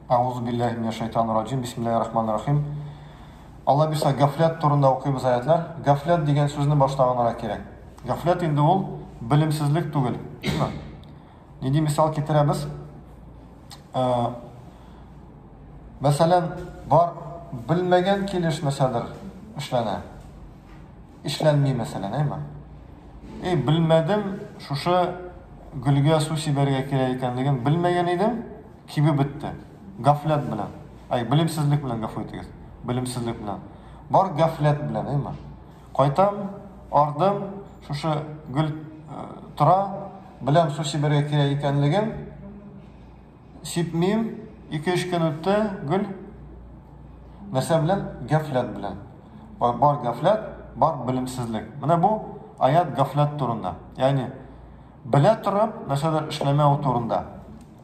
Әгъузубилләһи минәшшәйтанир-раҗим, бисмиллаһир-рахманир-рахим. Алла бирса, гафләт турында укыйбыз аятьләр. Гафләт дигән сүзне башта аңларга кирәк. Гафләт инде ул белемсезлек түгел. Нинди мисал китерәбез? Э, мәсәлән, бар белмәгән килеш нәрсәдер эшләнә. Эшләнми, мәсәлән, әйме? Эй, белмәдем, шушы гөлгә су сибәргә кирәк икәнлеген белмәгән идем. Кибеп бетте. Гафләт белән. Әй, белемсезлек белән, гафу итегез. Белемсезлек белән. Бар гафләт белән, әйме. Кайтам, ардым, шушы гөл тора, беләм су сибәргә кирәк икәнлеген. Сипмим, ике-өч көн үтте, гөл. Нәрсә белән? Гафләт белән. Бар гафләт, бар белемсезлек. Менә бу аят гафләт турында. Ягъни, белә торып, нәрсәдер эшләмәү турында.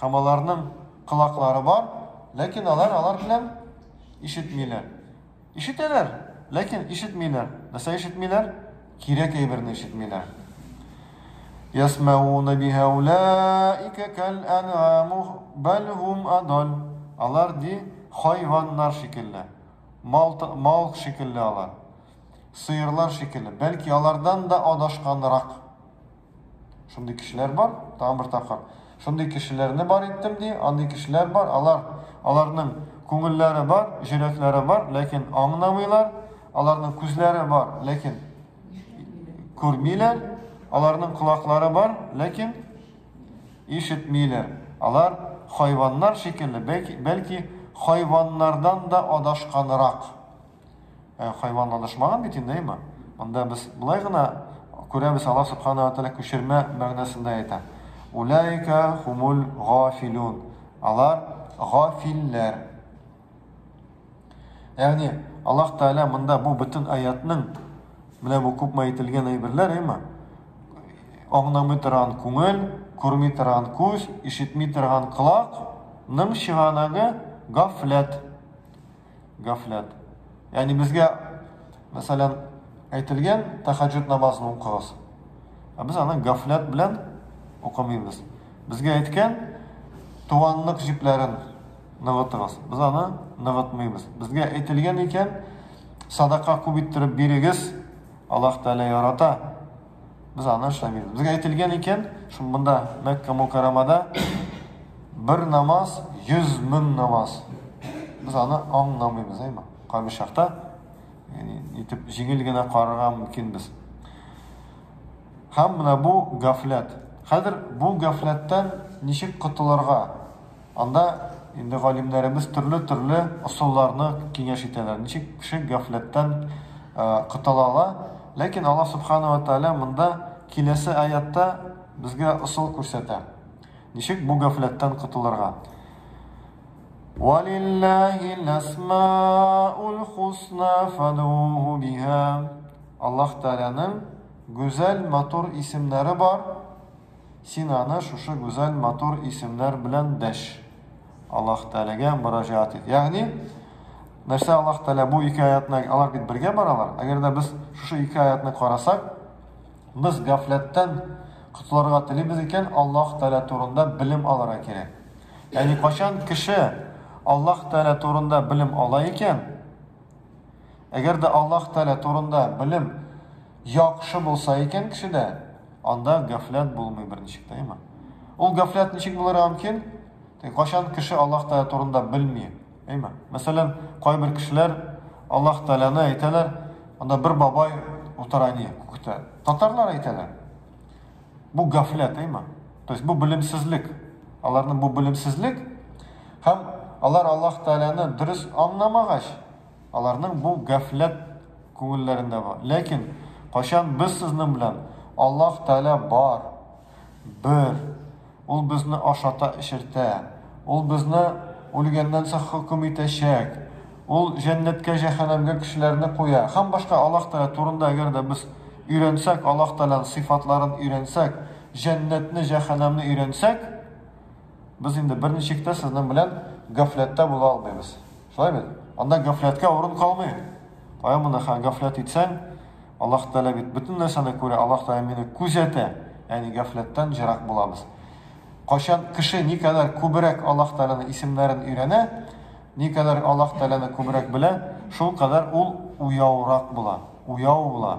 Һәм аларның колаклары бар, ләкин алар алар белән ишетмиләр. Ишетәләр, ләкин ишетмиләр. Нәрсә ишетмиләр? Кирәк әйберне ишетмиләр. Ясмауна биһа улаика кал анаму бал хум адал. Алар ди хайваннар шикелле. Мал мал шикелле алар. Сыерлар шикелле. Бәлки алардан да адашканрак. Шундый кешеләр бар, тагын бер тапкыр. Шундый кешеләрне бар иттем ди, андый кешеләр бар, алар аларның күңелләре бар, җөрәкләре бар, ләкин аңнамыйлар, аларның күзләре бар, ләкин күрмиләр, аларның колаклары бар, ләкин ишетмиләр. Алар хайваннар шикелле, бәлки, бәлки хайваннардан да адашканрак. Ә хайван адашмаган бит инде, әйме? Монда без болай гына күрәбез, Аллаһ Субхана ва Тәгалә күчермә мәгънәсендә әйтә. Уләйка хумул гафилун. Алар гафилләр. Ягъни Аллаһ Тәгалә монда бу бөтен аятның менә бу күпме әйтелгән әйберләр, әйме? Аңламый торган күңел, күрми торган күз, ишетми торган колакның чыганагы гафләт. Гафләт. Ягъни безгә, мәсәлән, әйтелгән тәхәҗҗүд намазын укыгыз. Ә без аны гафләт белән укымыйбыз. Безгә әйткән туганлык җипләрен ныгытыгыз. Без аны ныгытмыйбыз. Безгә әйтелгән икән, садака күп иттереп бирегез, Аллаһ Тәгалә ярата. Без аны эшләмибез. Безгә әйтелгән икән, шул монда Мәккә Мукарамада бер намаз 100 мең намаз. Без аны аңламыйбыз, әйме? Кайбер чакта яни итеп җиңел генә карарга мөмкин без. Һәм менә бу гафләт. Хәзер бу гафләттән ничек котылырга? Анда инде галимнәребез төрле-төрле ысулларны киңәш итәләр, ничек кеше гафләттән котыла ала. Ләкин Аллаһ Сүбхәнәһү вә Тәгалә монда киләсе аятта безгә ысул күрсәтә, ничек бу гафләттән котылырга. Валиллаһил әсмаул хусна фадгуһу биһа. Аллаһ Тәгаләнең гүзәл, матур исемнәре бар. Син аны шушы гүзәл, матур исемнәр белән дәш. Аллаһ Тәгаләгә мөрәҗәгать ит. Ягъни, нәрсә Аллаһ Тәгалә бу ике аятны, алар бит бергә баралар. Әгәр дә без шушы ике аятны карасак, без гафләттән котылырга телибез икән, Аллаһ Тәгалә турында белем алырга кирәк. Ягъни, кайчан кеше Аллаһ Тәгалә турында белем ала икән, әгәр дә Аллаһ Тәгалә турында белем яхшы булса икән кешедә, Анда гафләт булмый берничек тә, әйеме? Ул гафләт ничек булырга мөмкин? Кайчан кеше Аллаһ Тәгалә турында белми, әйеме? Мәсәлән, кайбер кешеләр Аллаһ Тәгаләне әйтәләр, анда бер бабай утыра ни күктә. Татарлар әйтәләр. Бу гафләт, әйеме? То есть бу белемсезлек. Аларның бу белемсезлек һәм алар Аллаһ Тәгаләне дөрес аңламагач, Аларның бу гафләт күңелләрендә бар. Ләкин кайчан без сезнең белән Аллаһ Тәгалә бар, бер, Ул безне ашата-эчертә, Ул безне үлгәннән соң хөкем итәчәк, Ул җәннәткә, җәһәннәмгә кешеләрне куя һәм башка Аллаһ Тәгалә турында әгәр дә без өйрәнсәк, Аллаһ Тәгаләнең сыйфатларын өйрәнсәк, җәннәтне, җәһәннәмне өйрәнсәк, без инде берничек тә сезнең белән гафләттә була алмыйбыз. Шулай бит? Анда гафләткә урын калмый. Таян монда хәзер гафләт итсәң, Аллаһ Тәгалә бит бөтен нәрсәне күрә, Аллаһ Тәгалә мине күзәтә, ягъни гафләттән ерак булабыз. Кайчан кеше никадәр күбрәк Аллаһ Тәгаләнең исемнәрен өйрәнә, никадәр Аллаһ Тәгаләне күбрәк белә, шулкадәр ул уяурак була, уяу була.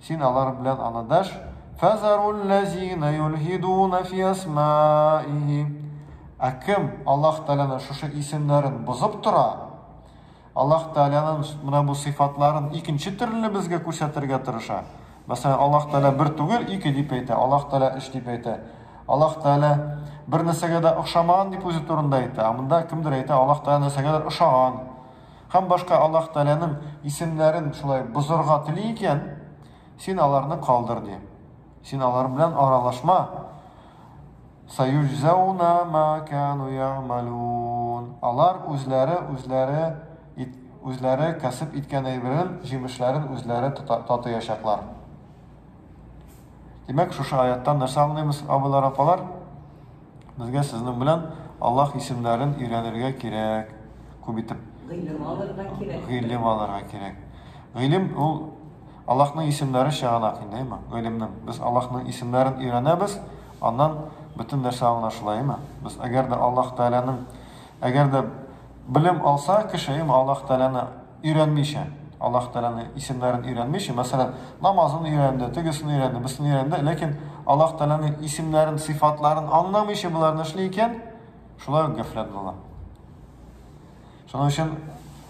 Син алар белән анадаш, фазаруллазина юлхидуна фи асмаихи. Ә кем Аллаһ Тәгаләнең шушы исемнәрен бозып тора? Аллаһ Тәгаләнең менә бу сыйфатларын икенче төрле безгә күрсәтергә тырыша. Мәсәлән, Аллаһ Тәгалә бер түгел, ике дип әйтә, Аллаһ Тәгалә өч дип әйтә. Аллаһ Тәгалә бер нәрсәгә дә охшамаган дип үзе турында әйтә. Ә монда кемдер әйтә, Аллаһ Тәгалә нәрсәгәдер ошаган. Һәм башка Аллаһ Тәгаләнең исемнәрен шулай бозарга тели икән, син аларны калдыр, ди. Син алар белән аралашма. Сәюҗзәүнә мә кәну я'мәлун. Алар үзләре, үзләре, үзләре кәсеп иткән әйберен, җимешләрен үзләре татыячаклар. Димәк, шушы аяттан нәрсә аңлыйбыз, абыйлар, апалар? Безгә сезнең белән Аллаһ исемнәрен өйрәнергә кирәк, күп итеп. Гыйлем алырга кирәк. Гыйлем алырга кирәк. Гыйлем ул Аллаһның исемнәре чыганак инде, әйме? Гыйлемнең. Без Аллаһның исемнәрен өйрәнәбез, аннан бөтен нәрсә аңлашыла, әйме? Без әгәр дә Аллаһ Тәгаләнең әгәр дә белем алса кеше, әйме, Аллаһ Тәгаләне Өйрәнмичә, Аллаһ Тәгаләне исемнәрен өйрәнмичә, мәсәлән, намазын өйрәнде, тегесен өйрәнде, берсен өйрәнде, ләкин Аллаһ Тәгаләне исемнәрен, сыйфатларын аңламыйча боларны эшли икән, шулай ук гафләт була. Шуның өчен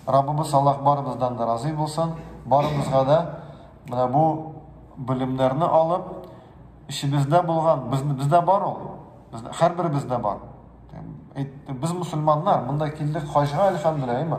Раббыбыз Аллаһ барыбыздан да разый булсын, барыбызга да менә бу белемнәрне алып, эчебездә булган, без, бездә бар ул, без, һәрберебездә бар. Без мусульманнар, монда килдек хаҗга, әлхәмдүлилләһ, әйме?